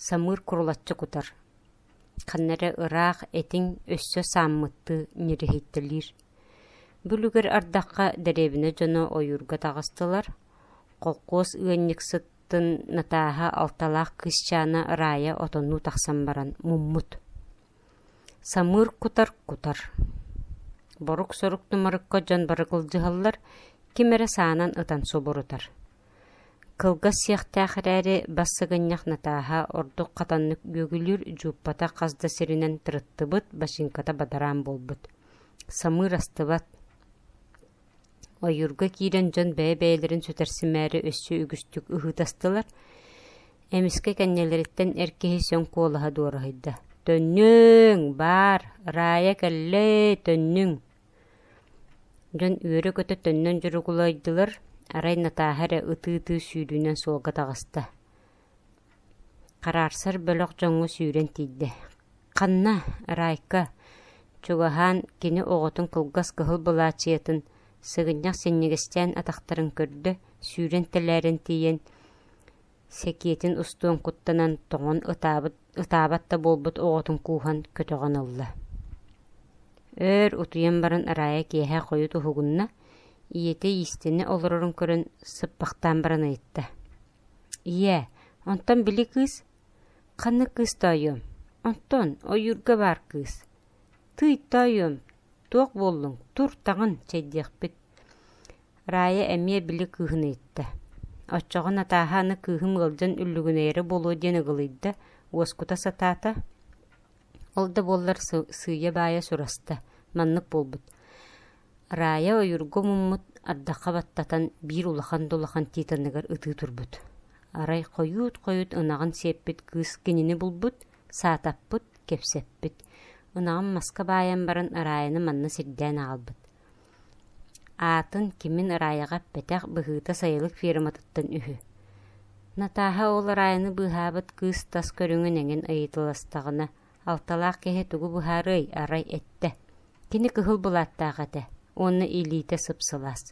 Самыыр курулаччы кутар, ханна эрэ ыраах этиҥ өссө сааммыттыы ньирэһиттэлиир. Бүлүгэр ардахха дэриэбинэ дьоно ойуурга таҕыстылар, холкуос ыанньыксыттын Натааһа алталаах кыысчаана Раайа отоннуу тахсан баран муммут: «Самыыр кутар, кутар, борук-сорук тумарыкка дьон бары кылдьыһаллар, ким эрэ саанан ытан субурутар. Кылгас сиэхтээх эрээри, бассыгынньах натааһа ордук хатаннык күөгүлүүр, дьууппата хас да сиринэн тырыттыбыт, бачыыҥката бадараан буолбут. Самыыр астыбат. Ойуурга киирэн дьон бэйэ-бэйэлэрин сүтэрсимээри өссө үгүстүк ыһыытастылар. Эмискэ кэннилэриттэн эр киһи сөҥ куолаһа дуораһыйда. «Төннүҥ! Баар! Раайа кэллэй, төннүҥ!» Дьон үөрэ-көтө төннөн дьуругулайдылар, арай Натааһа эрэ ытыы-ытыы сүүрүүнэн суолга таҕыста. Хараарсар бөлөх дьоҥҥо сүүрэн тиийдэ: «Ханна, Раайка, чугаһаан кини оҕотун кылгас кыһыл былаачыйатын сыгынньах синньигэстээн атахтарын көрдө, сүүрэн тэлээрэн тиийэн, Сэкиэтин устуон куттанан тоҥон ытаабыт ытаабат да буолбут оҕотун кууһан көтөҕөн ылла Өөр утуйан баран араайа киэһэ хойут уһугунна, ийэтэ иистэнэ олорорун көрөн сыппахтаан баран ыйытта. «Ийээ, онтон били кыыс? Ханнык кыыс тоойуом? Онтон ойуурга баар кыыс. Тыый тоойуом, туох буоллуҥ, тур таҕын чэйдиэхпит» Раайа эмиэ били кыыһын ыйытта: «Оччоҕо Натааһа аны кыыһым ыалдьан үллүгүнэйэрэ буолуо диэн ыгылыйда, уоскута сатаата, ол да буоллар сыыйа-баайа сураста, маннык буолбут: Раайа ойуурга муммут, ардахха баттатан, биир улахан-да-улахан титаныгар ытыы турбут. Арай хойуут-хойут ынаҕын сиэппит кыыс кинини булбут, саатаппыт, кэпсэппит. Ынаҕын маска баайан баран Раайаны манна сирдээн аҕалбыт. Аатын кимин араайаҕа эппэтэх быһыыта сайылык ферматыттан үһү. Натааһа ол араайыны быыһаабыт кыыс тас көрүҥүн эҥин ыйыталастаҕына, алталаах киһи тугу быһаарыай, арай эттэ: «Кини кыһыл былааттаах этэ уонна илиитэ сып-сылаас»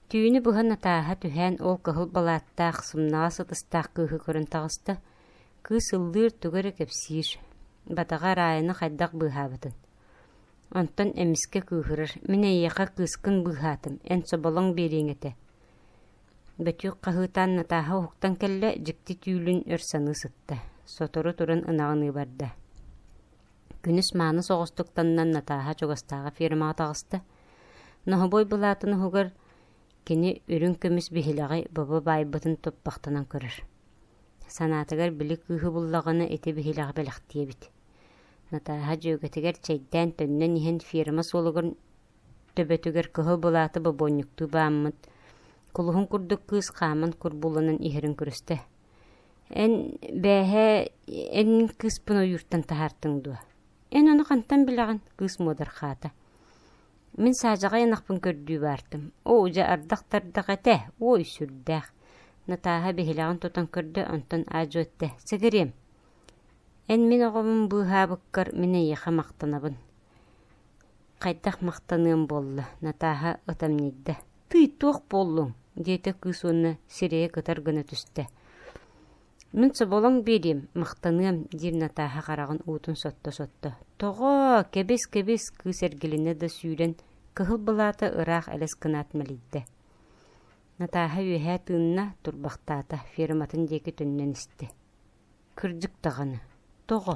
Түүнү быһа Натааһа түһээн ол кыһыл балааттаах, сымнаҕас ытыстаах кыыһы көрөн таҕыста, кыыс ыллыыр, тугу эрэ кэпсиир, батаҕа араайыны хайдах быыһаабытын. Онтон эмискэ кыыһырар: «Мин эйиэхэ кыыскын быыһаатым, эн соболоҥ биэриэҥ этэ» Бөтүөк хаһыытаан Натааһа уһуктан кэллэ, дьикти түүлүн өр саныы сытта, сотору туран ынаҕыныы барда. Күнүс мааны соҕустуктаннан Натааһа чугастааҕы фермаҕа таҕыста. Ноһобуой былаатын уһугар кини үрүҥ көмүс биһилэҕи бобо баайбытын туппахтанан көрөр. Санаатыгар били кыыһы буллаҕына ити биһилэҕи бэлэхтиэбит Натааһа дьүөгэтигэр чэйдээн төннөн иһэн ферма суолугар төбөтүгэр кыһыл былааты бобуонньуктуу бааммыт кулуһун курдук кыыс хааман курбууланан иһэрин көрүстэ эн бээһээ эн кыыспын ойууртан таһаартыҥ дуо эн ону хантан билэҕин кыыс муодархаата Мин саадьаҕай ынахпын көрдүү баартым, оо, дьэ ардах-тардах этэ, уой сүрдээх. Натааһа биһилэҕин тутан көрдө, онтон аадьыо эттэ, «Сэгириэм, эн мин оҕобун быыһаабыккар мин эйиэхэ махтанабын». Хайдах махтаныам буолла, Натааһа ытамньыйда. «Тый, туох буоллуҥ?» диэтэ кыыс уонна сирэйэ кытар гына түстэ. мин соболоҥ биэриэм махтаныам диир натааһа хараҕын уутун сотто-сотто тоҕоо кэбис-кэбис кыыс эргилинэ да сүүрэн кыһыл былаата ыраах элэс гынаат мэлийдэ натааһа үөһээ тыынна турбахтаата ферматын диэки төннөн истэ кырдьык даҕаны тоҕо